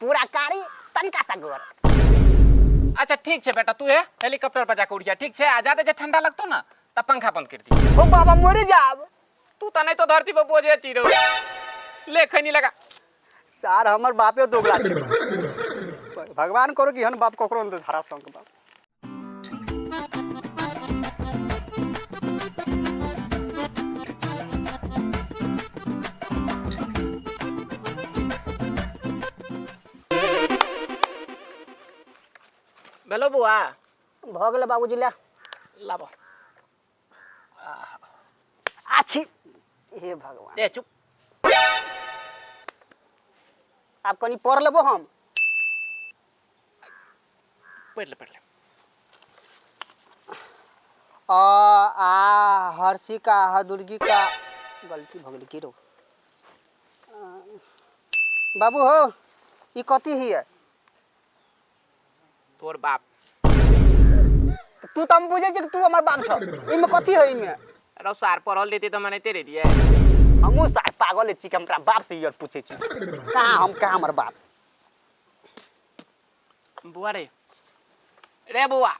पूरा कारी तनिका सा गोर अच्छा ठीक छै बेटा तू हे हेलीकॉप्टर पर जाके उड़िया ठीक छै आ जाते जे ठंडा लगतो ना तब पंखा बंद कर दी ओ बाबा मर जाब तू त नहीं तो धरती पर बोझे चिड़ो ले खैनी लगा सार हमर बापे दोगला छै भगवान करो कि हन बाप ककरो अंदर हरा संग बाप भेलो बौआ भऽ गेलै बाबूजी लए लाबो आछी हे भगवान ए चुप आब कनी पढ़ लेबो हम पढ़ ले पढ़ ले अ आ हर्षी का हदुर्गी का गलती भऽ गेलै की रौ अ, बाबू हो ई कथी हिय तोर बाप तू तऽ हम बुझै छियै कि तू हमर बाप छौ एहिमे कथी है एहिमे रौ सार पढ़ल रहती तऽ मनाइते रहतियै हमहूँ सार पागल छी कि हमरा बाप से ई आर पूछै छी कहाँ हम कहाँ हमर बाप बौआ रे रे बौआ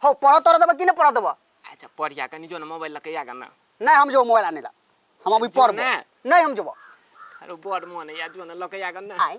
हौ पढ़ऽ तोरा देबऽ कि नहि पढ़ऽ देबऽ अच्छा पढ़िया कनि जो ने मोबाइल लऽ के आगा ना नहीं हम जो मोबाइल आने ला हम अभी जो पढ़बो ना। नहीं हम जोबो अरे बड़ मोन है यार जो ने लऽ के आगा ना आय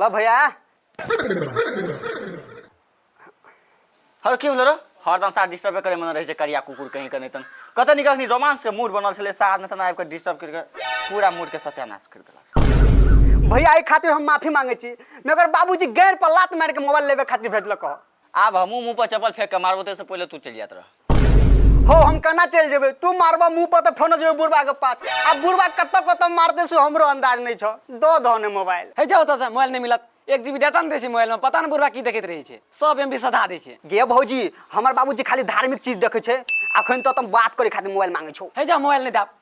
ल भैया हर की भेल हरदम साथ डिस्टर्ब करे मन रहे छै करिया कुकुर कहीं के तन कत निकल रोमांस के मूड बनल छले साथ में तन आबि के डिस्टर्ब करके पूरा मूड के सत्यानाश कर देलक भैया एहि खातिर हम माफी मांगे छी मगर बाबूजी गैर पर लात मार के मोबाइल लेवे खातिर भेजलक ह आब हमहूँ मुँह पर चप्पल फेंक के मारबो ते से पहले तू चलि जात रह हो हम कना चल जेबे तू मारबा मुंह पर तो फोन जेबे बुढ़वा के पास अब बुढ़वा कत्तो कत्तो मारते सो हमरो अंदाज नहीं छ दो धोने मोबाइल है जाओ तो मोबाइल नहीं मिलत एक जीबी डाटा नहीं दै छै मोबाइलमे पता नहि बुढ़वा की देखैत रहै छै सब एम बी सधा दै छै गे भौजी हमर बाबूजी खाली धार्मिक चीज देखे छै अखन तो तुम बात करे खातिर मोबाइल मांगे छो है जाओ मोबाइल नहीं दाब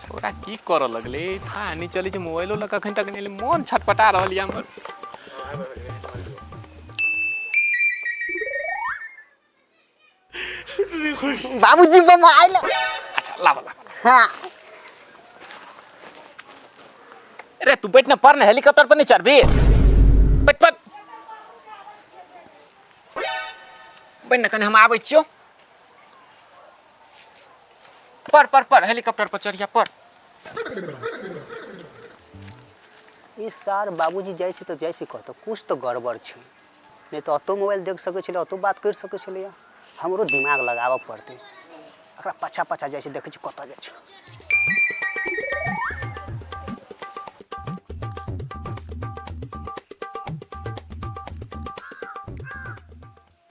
छोरा की कर लगले था नहीं चले जे मोबाइलो लग अखन तक नहीं ले मन छटपटा रहल या हमर बाबूजी बम आइल अच्छा लावा लावा हाँ अरे तू बैठ ना पर ना हेलीकॉप्टर पर नहीं चढ़ भी बैठ पर बैठ ना कने हम आबै छियो पर पर पर हेलीकॉप्टर पर चढ़िया पर ई सार बाबूजी जाइ छै तऽ जाइ छै कतऽ किछु तऽ गड़बड़ छै नहि तऽ ओतौ मोबाइल देख सकै छलै ओतौ बात करि सकै छलैए हमरो दिमाग लगाबऽ पड़तै एकरा पाछा पाछा जाइ छै देखै छी कतऽ जाइ छै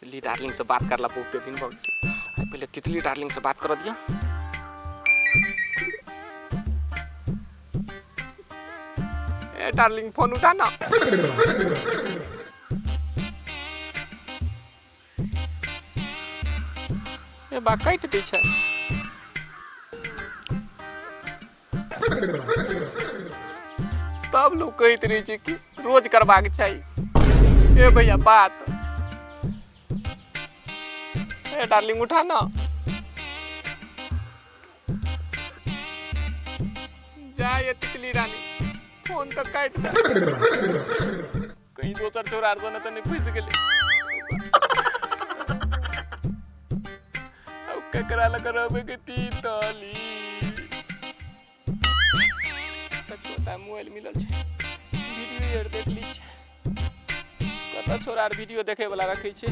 तितली डार्लिंग से बात करला बहुते दिन भऽ गेल आइ पहिले तितली डार्लिंग से बात कर दिया ए डार्लिंग फोन उठा ना ए बा काटि दै छै तब लोग कहैत रहै छै कि रोज करबाक चाही ए भैया बात ए डार्लिंग उठा ना जाए तितली रानी फोन तो काट दे कहीं दोसर चोर आर सने तऽ नहि फँसि गेलै आब ककरा लग रहबै के तीन तली छोटा मोबाइल मिलल छै वीडियो आर देख ली छै कतऽ छोरा आर वीडियो देखैवला रखै छै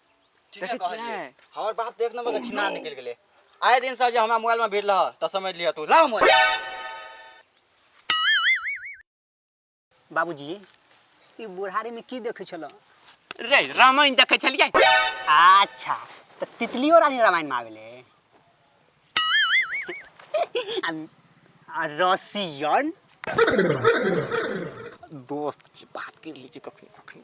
ठीके देखै कहलियै। छियै हमर बाप तऽ एक नंबर के छिनार निकलि गेलै आइ दिन से जे हमरा मोबाइल मे भिड़लऽ तऽ समझि लिअ तू लाउ मोबाइल बाबूजी ई बुढ़ारी में की देखै छलऽ रे रामायण देखै छलियै अच्छा तऽ तितलियो रानी रामायण में आवेले आ- आ रसियन दोस्त छी बात कर लीजिए कखनी कखनी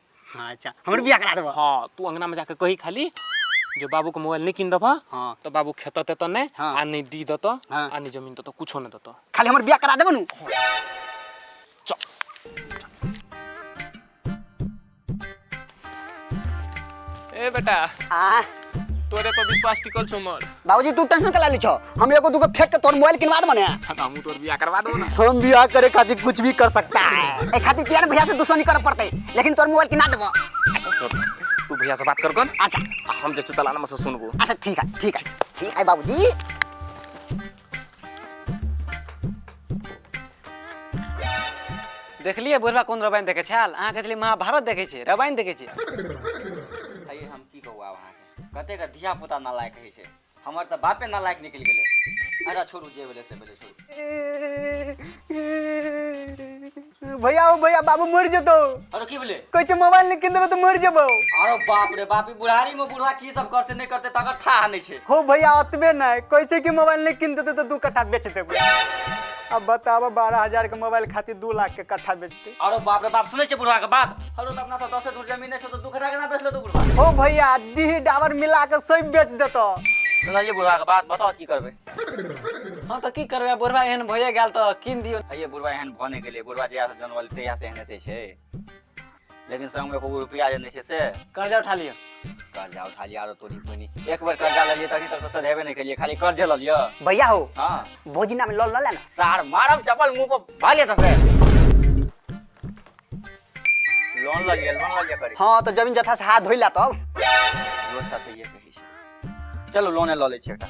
हाँ अच्छा हमर बियाह करा देबह हाँ तू अंगना में जाके कही खाली जो बाबू के मोबाइल नहीं किन देबह हाँ। तो बाबू खेत तेत नहीं हाँ। आ नहीं डी देत हाँ। आ नहीं जमीन देत कुछो नहीं देत खाली हमर बियाह करा देबह नु चल ए बेटा आ तोरे पर विश्वास टिकल छौ मर बाबूजी तू टेंशन कला ली छो हम एगो दूगो फेंक के तोर मोबाइल किनवा दे मने त हमहू तोर बियाह करवा देबो ना हम बियाह करे खातिर कुछ भी कर सकता है ए खातिर किया ने भैया से दुश्मनी करे पड़ते लेकिन तोर मोबाइल किना देबो अच्छा चल तू भैया से बात कर कौन अच्छा हम जे चुतलाना में से सुनबो अच्छा ठीक है ठीक है ठीक है बाबूजी देखलियै बुढ़वा कोन रवायन देखै छाल अहाँ कहै छलियै महाभारत देखै छै रवायन देखै छै आइए हम की कहू आब अहाँके कतेक धिया पुता नालायक होइ छै हमर तऽ बापे नालायक निकलि गेलै अच्छा छोड़ू जे भेलै से भेलै छोड़ू भैया ओ भैया बाबू मरि जेतौ अरे की बोले कहै छै मोबाइल नहि कीन देबै तऽ मरि जेबौ अरे बाप रे बाप ई बुढ़ारी में बुढ़वा की सब करते नहीं करते तकर था नहीं छे हो भैया अतबे नहि कहै छै कि मोबाइल नहि कीन देतै तऽ दू कट्ठा बेच देबै अब बताबऽ बारह हजार के मोबाइल खातिर दू लाख के कट्ठा बेचतै अरे बाप रे बाप सुनै छै बुढ़वा के बात हरो तऽ अपना सब दसे दूर जमीन छै तऽ दू कट्ठा केना बेच लेतो बुढ़वा हो भैया डीह डाबर मिला के सब बेच देतौ सुनलिए बुढ़वा के बात बताओ की करबे हँ तऽ की करबै बुढ़वा एहन भए गेल तऽ कीन दियौ आइए बुढ़वा एहन भऽ नहि गेलै बुढ़वा जहियासँ जनमल तहियासँ एहन हेतै छै लेकिन संगमे एको गो रुपैआ जे नहि छै से कर्जा उठा लियौ कर्जा उठा लिया आरो तोरी बहिनी एक बेर कर्जा लेलियै तखन तक तऽ सधेबे नहि केलियै खाली कर्जे लऽ लिअ भैया हो हँ भोजी नाम लऽ लऽ ले ना सार मारब चपल मुंह पर भाले त से लोन लग गेल लोन लग गेल करी हाँ तो जमीन जथा से हाथ धोइला तब रोज का सही कहै छै चलो लोने लऽ लै छियै एकटा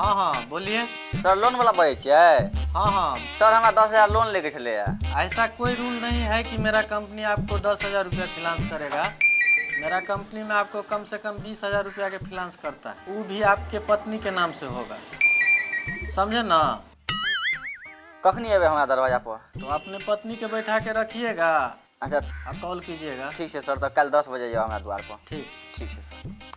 हँ हँ बोलिए सर लोन वाला बजै छियै हाँ हाँ सर हमरा दस हजार लोन लेके छलै ऐसा कोई रूल नहीं है कि मेरा कंपनी आपको दस हजार रुपया फिनांस करेगा मेरा कंपनी में आपको कम से कम बीस हजार रुपया के फिनांस करता है वो भी आपके पत्नी के नाम से होगा समझे ना कखनी एबै हमरा दरवाजा पर तो अपने पत्नी के बैठा के रखिएगा अच्छा आप कॉल कीजिएगा ठीक छै सर तऽ काल्हि दस बजे जाउ हमरा दुआर पर ठीक ठीक छै सर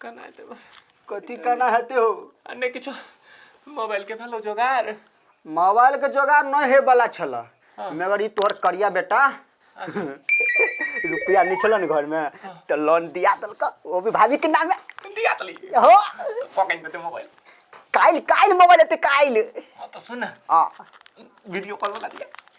कना हेतै बा? कथी केना हेते हो आ नहि किछो मोबाइलके भेलौ जोगाड़ मोबाइल के जोगाड़ नहि हे वाला छल मगर ई तोहर करिया बेटा रुपया नहि छल ने घर में तो लोन दिया देलक वो भी भाभी के नाम दिया तली हो पकड़ि देतै मोबाइल काल्हि काल्हि मोबाइल एते काल्हि हाँ तऽ सुन ने आ वीडियो कॉल बना दिया